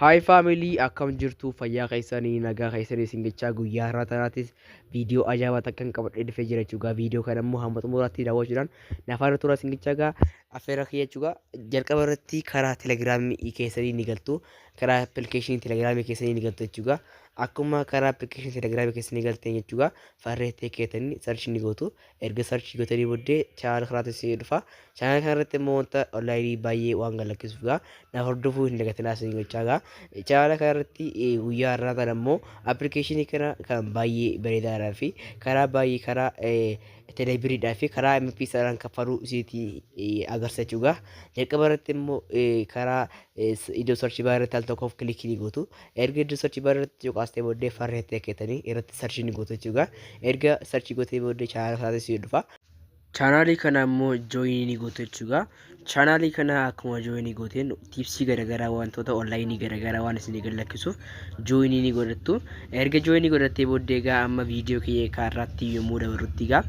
Hi family akkam jirtu fayyaa keessanii nagaa keessanii isin jechaa guyyaa har'aa tanaatis viidiyoo ajaa'ibaa takkan qabadhee dhufee jira jechuudha. Viidiyoo kana immoo hamma xumuraatti daawwachuudhaan nafaana turaa isin jechaa gaa affeerra kiyya jechuudha. Jalqaba irratti karaa telegiraamii keessanii ni galtu. Karaa appilikeeshinii telegiraamii keessanii ni galtu jechuudha. Akkuma karaa appilikeeshinii telegiraamii keessanii galteen jechuudha. Farree ta'e keetanii sarchi ni gootu. Erga search gotanii boddee channel kanaatti isinii dhufa. Channel kana irratti immoo wanta online baay'ee waan gad lakkisuuf gaa na hordofuu hin dagatinaa isin gochaa gaa. Channel kana irratti eh, guyyaa har'aa kana immoo application kana kan baay'ee bareedaadhaa fi karaa baay'ee karaa eh, telebiriidhaa fi karaa MP isaadhaan kaffaluu isinitti eh, agarsiisa jechuudha. Jalqaba irratti immoo eh, karaa iddoo sarchi baa irratti al tokkoof kilikii ni gootu. Erga iddoo sarchi baa irratti cuqaastee booddee farree ta'e keetanii irratti sarchi ni gootu jechuudha. Erga sarchi gootee booddee chaanaala isaatis ni dhufa. Chaanaalii kana immoo jooyinii ni gootu jechuudha. Chaanaalii kana akkuma jooyinii gooteen tiipsii garaagaraa wantoota onlaayinii garaagaraa waan isin gad lakkisuuf jooyinii ni godhattu. Erga jooyinii godhattee booddee egaa amma viidiyoo kiyya kaarraatti yommuu dabarrutti egaa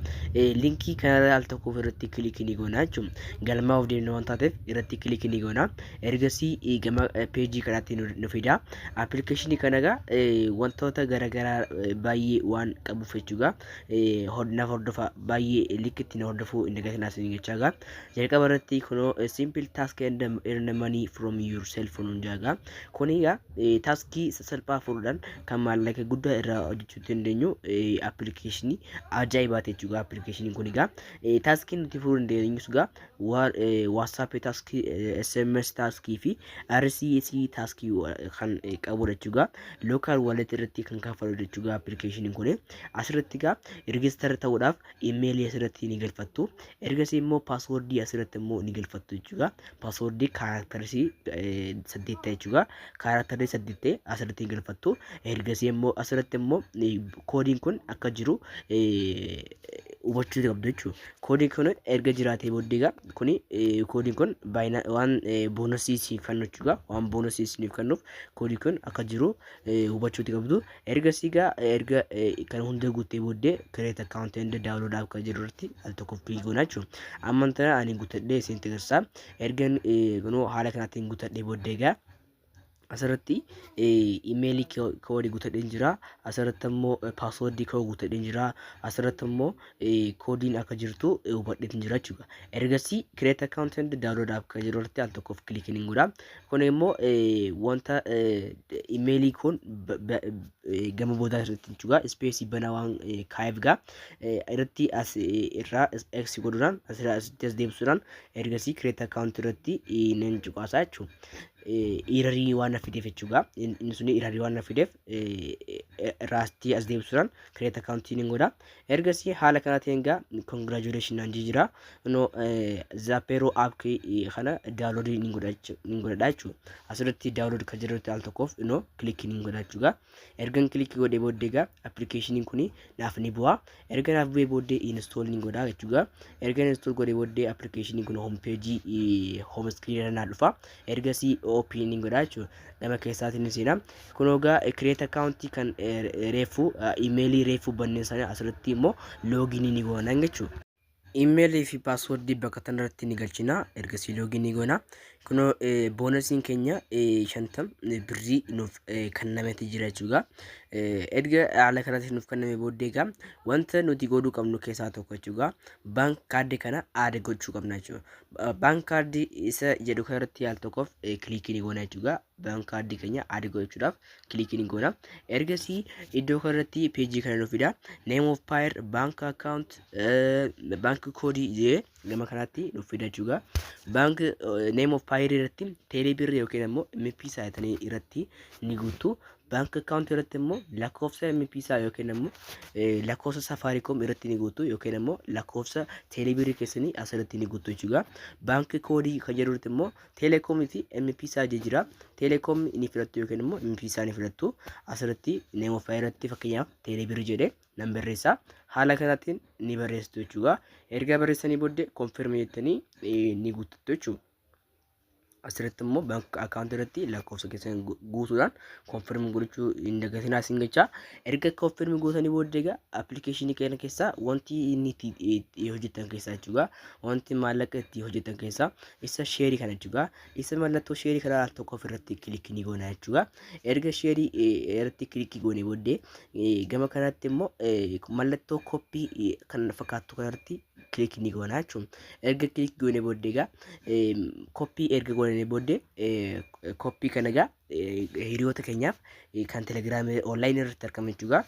linkii kanarra al tokkoof irratti kilikii ni goona jechuudha. Galmaa of deemna waan taateef irratti kilikii ni goona. Ergasii gama peejii kanaatti nu fida. Appilikeeshinii kana egaa wantoota garaagaraa baay'ee waan qabuuf jechuudha. Naaf hordofa baay'ee likkitti na hordofuu hin dagatinaa isin jechaa egaa. Jalqaba irratti kunoo simple task and earn money from your cell phone hundaa egaa. Kun egaa eh, taaskii salphaa furuudhaan kan maallaqa guddaa irraa hojjechuu dandeenyu appilikeeshinii ajaa'ibaati jechuudha. Appilikeeshiniin kun egaa eh, taaskii nuti furuu dandeenyus egaa waatsaappii taaskii, SMS taaskii fi RCS taaskii eh, kan eh, qabudha jechuudha. Lookaal wallet irratti kan kaffalu jechuudha appilikeeshiniin kun. Asirratti egaa rigistar ta'uudhaaf imeelii asirratti ni galfattu. Ergasii immoo paaswoordii asirratti immoo ni galfattu jechuudha. paaswordii kaaraaktarii saddeetta jechuudha. Kaaraaktarii saddeettee asirratti galfattu. Ergasii immoo asirratti immoo koodiin kun akka jiru hubachuu qabdu jechuudha. Koodiin kun erga jiraatee booddee egaa kuni koodiin kun baay'ina waan boonasii siif kennu jechuudha. Waan boonasii siif kennuuf koodiin kun akka jiru hubachuu qabdu. Ergasii gaa erga kan hunda guuttee booddee create account and download app kan jedhu irratti al tokko click goona jechuudha. Amma tana ani guuttadhee isin agarsiisa. Erga kunoo haala kanaatiin guuttadhee booddee gaa asirratti imeelii koodii guuttadhee jira. Asirratti immoo paaswoordii koo guuttadhee jira. Asirratti immoo koodiin akka jirtu hubadhee jira jechuudha. Ergasii create account and download app kan jedhu irratti al tokkoof click hin godha. Kun immoo wanta imeelii kun gama boodaa irratti hin cugaa ispeesii banaa waan kaa'eef gaa irratti as irraa x godhuudhaan asirraa asitti as deebisuudhaan ergasii kireet akkaawunti irratti nan cuqaasaa jechuudha. Irarii waan na fideef jechuudha. Inni sun irarii waan na fideef irraa asitti as deebisuudhaan kireet akkaawuntii nan godha. ergasii haala kana ta'een gaa congratulation naan jee jira no zapeeroo app kana download ni godhachu ni godhadha jechuudha asirratti download kan jirutti al tokkoof no click ni godhachu gaa ergan click godhee booddee gaa appilikeeshiniin kun naaf ni bu'a erga naaf bu'ee booddee install ni godha jechuudha erga install godhee booddee appilikeeshiniin kun home page home screen irra naa dhufa ergasii OP ni godha jechuudha. Nama keessaatiin ni seena. Kun hogaa create account kan reeffu imeelii reeffu banneen sana asirratti immoo looginii ni goona jechuudha. Imeelii fi paaswordii bakka tanarratti ni galchina. Ergasii loogii ni goona. Kun boonasiin keenya shantam birrii nuuf kennameti jira jechuudha. Erga haala kanatti nuuf kenname booddee egaa wanta nuti godhuu qabnu keessaa tokko jechuudha. Baank kaardii kana aada gochuu qabna jechuudha. Bank card isa jedhu kana irratti al tokkoof kilikii ni goona jechuudha. Bank card keenya add gochuudhaaf kilikii ni goona. Ergasii iddoo kana irratti page kana nu fida. Name of payer, bank account, eh, bank code jee gama kanaatti nu fida jechuudha. Bank eh, name of payer irratti teelee birri yookiin ammoo MP saayitanii irratti ni guutu. Bank account irratti immoo lakkoofsa MP isaa yookiin immoo eh, lakkoofsa Safaricom irratti ni guutu yookiin immoo lakkoofsa teelebirii keessanii asirratti ni guutu jechuudha. Baankii koodii kan jedhu irratti immoo teeleekoomii fi MP isaa jijjiira. Teeleekoom ni filattu yookiin immoo MP isaa ni filattu. Asirratti neemofaa irratti fakkeenyaaf teelebirii jedhee nan barreessa. Haala kanaatiin ni barreessitu jechuudha. Erga barreessanii booddee konfirmii jettanii eh, ni guuttattu jechuudha. asirratti immoo bank account irratti lakkoofsa keessan gu- guutuudhaan confirm gochuu hin dagatinaa isin jechaa erga confirm gootanii booddee egaa appilikeeshinii keenya keessaa wanti inni itti itti hojjetan keessaa jechuudha wanti maallaqa itti hojjetan keessaa isa sheerii kana jechuudha isa mallattoo sheerii kana al tokko ofirratti kilikii ni goona jechuudha erga sheerii eh, irratti kilikii goonee booddee eh, gama kanatti immoo eh, mallattoo koppii eh, kan fakkaattu kanarratti click ni goona jechuun erga click goone booddee egaa koppii erga goone booddee koppii kana egaa hiriyoota keenyaaf kan telegiraamii online irratti argaman jechuudha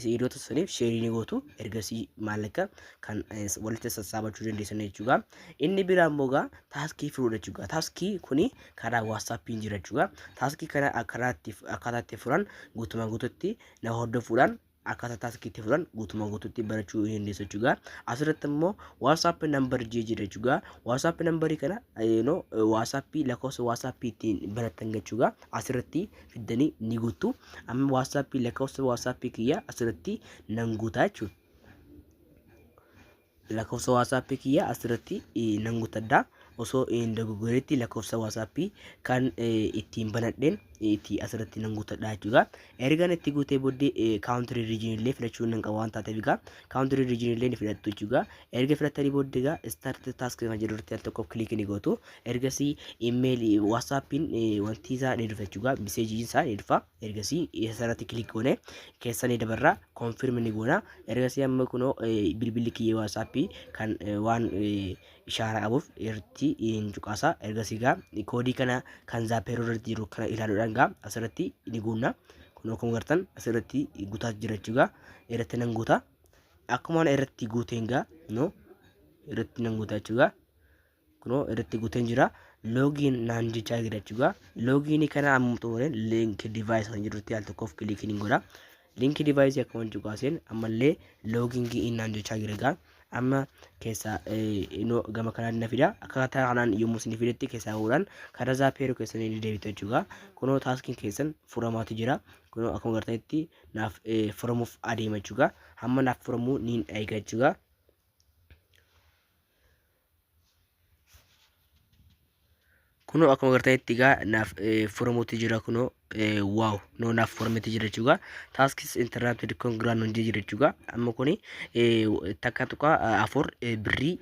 hiriyoota saniif sheerii ni gootu ergasii maallaqa kan walitti sassaabachuu dandeessan jechuudha inni biraa immoo egaa taaskii furuudha jechuudha taaskii kuni karaa waatsaappiin jira jechuudha taaskii kana akkaataa itti furan guutumaan guututti na hordofuudhaan akkaataa taaskii itti fudhan guutumaa guutuutti barachuu ni dandeessu jechuudha. Asirratti immoo WhatsApp number jee jira jechuudha. WhatsApp number kana no WhatsApp lakkoofsa WhatsApp ittiin barattan jechuudha. Asirratti fiddanii ni guuttu. Amma WhatsApp lakkoofsa WhatsApp kiyya asirratti nan guutaa jechuudha. Lakofsa WhatsApp kiyya asirratti nan gutadha. Osoo hin dogoggoretti lakofsa WhatsApp kan ittiin banadheen itti asirratti nan gutadha jechuudha. Ergan itti guutee booddee country region illee filachuu nan qaba waan taateef egaa country region illee ni filattu jechuudha. Erga filattanii booddee egaa start task kan jedhu irratti al tokko click ni gootu. Ergasii email WhatsAppiin wanti isaa ni dhufa jechuudha. Message isaa ni dhufa. ergasii isarratti kilik goone keessa ni dabarra konfirm ni goona ergasii amma kunoo eh, bilbilli kiyya waatsaappii kan eh, waan eh, ishaara qabuuf irratti hin cuqaasa ergasii gaa koodii kana kan zaapeeroo irratti jiru kana ilaaluudhaan gaa asirratti ni guunna kunoo akkuma gartan asirratti gutaa jira jechuudha irratti nan guuta akkuma irratti guuteen gaa no irratti nan guuta jechuudha kunoo irratti guuteen jira loogiin naan jechaa jira jechuudha loogiin kana amma xumureen link device kan jirutti al tokkoof kilikiin hin godha link device akka waan cuqaaseen ammallee loogiin gi'iin naan jechaa jira egaa amma keessaa inoo gama kanaan na fida akkaataa kanaan yommuu isin fidetti keessaa godhan karaa zaapeeroo keessan ni deebitu jechuudha kunoo taaskiin keessan furamaatu jira kunoo akkuma gartanitti naaf furamuuf adeema jechuudha hamma naaf furamuu niin eega jechuudha kunoo akkuma gartanitti egaa naaf furamuutti jira kunoo waaw noo naaf furametti jira jechuudha taaskis intarnaapti dikkoon giraan nuun jira jechuudha amma kuni takka tuqa afur birrii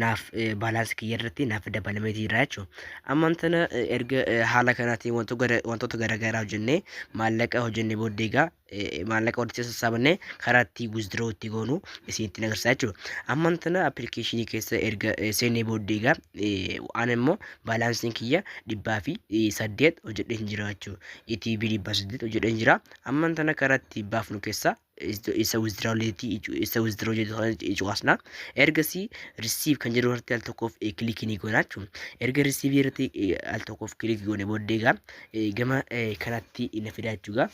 naaf baalaansi kiyya irratti naaf dabalamee jira jechuudha ammaan tana erga haala kanaatiin wantoota garaagaraa hojjennee maallaqa hojjennee booddee egaa eh, maallaqa walitti sassaabannee karaa itti withdraw itti goonu isinitti agarsiisa jechuudha. Amman tana appilikeeshinii keessa erga eh, seenee booddee egaa eh, an immoo baalaansiin kiyya dhibbaa fi eh, saddeet hojjedhee hin jira jechuudha. ETB dhibbaa saddeet hojjedhee hin jira. Amman tana karaa itti baafnu keessa is- isa withdraw leetii icu- isa withdraw jedhu sana cuqaasna. Ergasii receive kan jedhu irratti al tokkoof eh, kilikii ni goona jechuudha. Erga receive irratti eh, al tokkoof kilikii goone booddee egaa eh, gama eh, kanatti na fidaa jechuudha.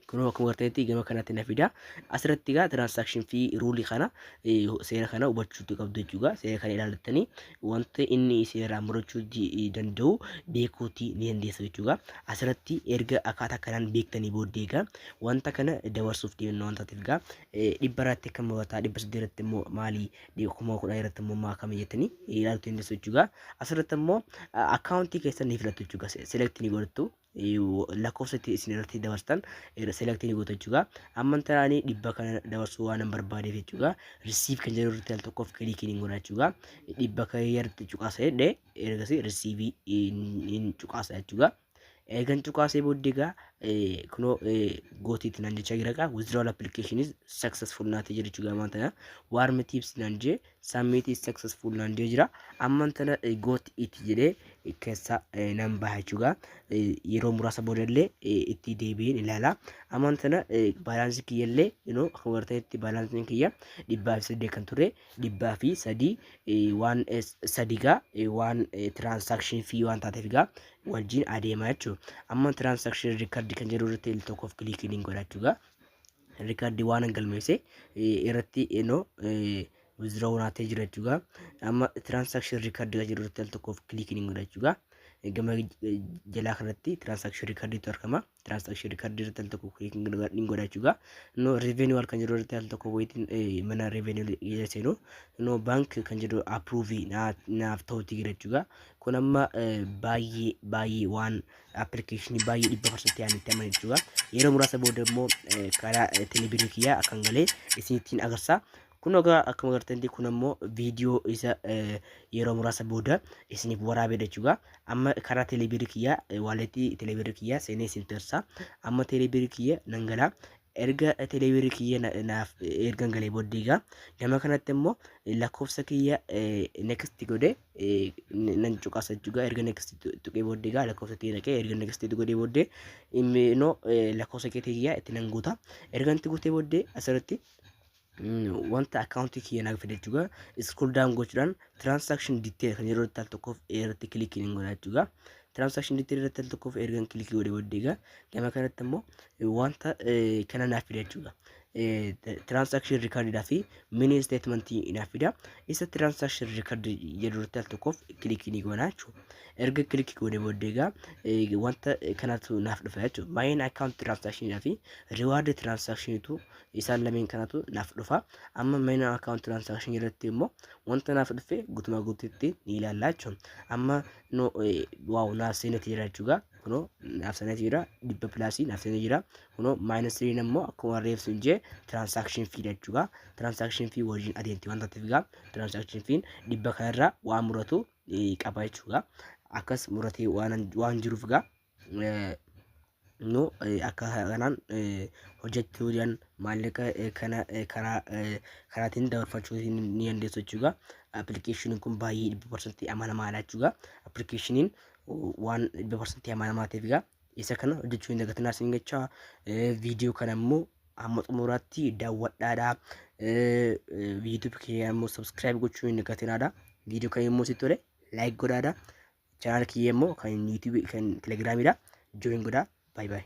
kunoo akkuma gartanitti gama kanatti na fida asirratti egaa tiraansaakshin fi ruulii kana eh, seera kana hubachuutu qabdu jechuudha seera kana ilaalattanii wanta inni seeraan murachuu di- danda'u beekuuti ni dandeessa jechuudha asirratti erga akkaataa kanaan beektanii booddee egaa wanta kana dabarsuuf deemna wanta ta'eef egaa eh, dhibba irratti kan murataa dhibba saddeet irratti immoo maali dhibba kuma kudhan irratti immoo maa kami jettanii ilaaluu dandeessu jechuudha asirratti immoo akkaawuntii keessan ni filattu jechuudha selektii ni godhattu lakkoofsa itti isin irratti dabarstan selektii ni gootu jechuudha. Amma inta ani dhibba kana dabarsuu waan hin barbaadeef jechuudha. Risiif kan jedhu irratti al tokkoof kiliikii ni godha jechuudha. Dhibba kan irratti cuqaasa jedhe ergasii risiivii hin cuqaasa jechuudha. Eegan cuqaasee booddee egaa kunoo gootiitti naan jechaa jira egaa withdrawal application is successful naatee jira jechuudha maanta warm tips naan jee Submit is successful naan jee jira. Amman tana eh, got it jedhee eh, keessa eh, nan baha jechuudha. Eh, Yeroo muraasa boodallee eh, itti deebi'een ilaala. Amman tana eh, baalaansii kiyyallee inoo akka warteetti baalaansiin kiyya dhibbaa fi saddeet kan ture dhibbaa fi sadii eh, waan eh, sadii gaa eh, waan eh, transaction fee waan taateef gaa wajjin adeema jechuudha. Amma transaction record kan jedhu irratti tokkoof kiliikii ni godha jechuudha. riikardii waan galmeesse irratti eno withdraw naatee jira jechuudha. Amma transaction record kan jedhu irratti al tokkoof kiliikiin hin godha jechuudha. Gama jalaa kanatti transaction record tu argama. Transaction record irratti al tokko kiliikiin hin godha jechuudha. No revenue al kan jedhu irratti al tokko wayitiin mana revenue jala seenu. No bank kan jedhu approve naaf ta'uutti jira jechuudha. Kun amma baay'ee baay'ee waan appilikeeshinii baay'ee dhibba parsantii ani itti amane jechuudha. Yeroo muraasa booda immoo eh, karaa eh, telebirrii kiyyaa akkan galee isinittiin agarsiisa. Kun ogaa akkuma agartanitti kun ammoo viidiyoo isa eh, yeroo muraasa booda isiniif waraabee jechuudha. Amma karaa telebirrii kiyyaa eh, waaleetii telebirrii kiyyaa seenee isinitti agarsiisa. Amma telebirrii kiyya nan galaa. erga teleebirri kiyya na- naaf ergan galee booddee egaa nama kanatti immoo lakkoofsa kiyya next godhe eh, n- nan cuqasa jechuudha erga next tuqee booddee egaa lakkoofsa kiyya naqee erga next godhee booddee immoo eh, lakkoofsa kiyya kiyya itti nan guuta erga itti guutee booddee asirratti mm, wanta akkaawuntii kiyya naaf fide jechuudha. Scroll down gochuudhaan transaction detail kan yeroo irratti al tokkoof irratti kilikii ni godha jechuudha. Transaction detail irratti al tokkoof ergan kilikii godhe booddee egaa gama kanatti immoo eh, wanta eh, kana naaf fida jechuudha. Eh, t- Transaction record dhaa fi mini statement naaf fida. Isa transaction record jedhu irratti al tokkoof kilikii ni godha jechuudha. Erga kilikii godhe booddee egaa eh, wanta kanatu naaf dhufa jechuudha. Baay'een account transaction dhaa fi reward transaction tu isaan lameen kanatu naaf dhufa amma minor account transaction jalatti immoo wanta naaf dhufe gutumaa guututti ni ilaalla jechuun amma no waaw naaf seeneeti jira jechuudha kunoo naaf seeneeti jira dhibba pilaasii naaf seeneeti jira kunoo maayinus tiriin immoo akkuma reefsu hin jee transaction fee jechuudha transaction fee wajjin adeemti wanta ta'eef gaa transaction fee dhibba kanarraa waan muratu qaba jechuudha akkas muratee waan jiruuf gaa nu akka kanaan hojjechuu jedhan maallaqa kana karaa karaatiin dabarfachuu ni dandeessu jechuudha. Appilikeeshiniin kun baay'ee dhibba parsantii amanamaadha jechuudha. Appilikeeshiniin waan dhibba parsantii amanamaa ta'eef egaa isa kana hojjechuu hin dagatinaa isin jechaa viidiyoo kana immoo amma xumuraatti daawwadhaadha. Viidiyoo kee ammoo sabskiraayib gochuu hin dagatinaadha. Viidiyoo kana immoo si tole laayik godhaadha. Channel kiyya immoo kan YouTube kan Telegram dha. Join godhaa. Bye bye.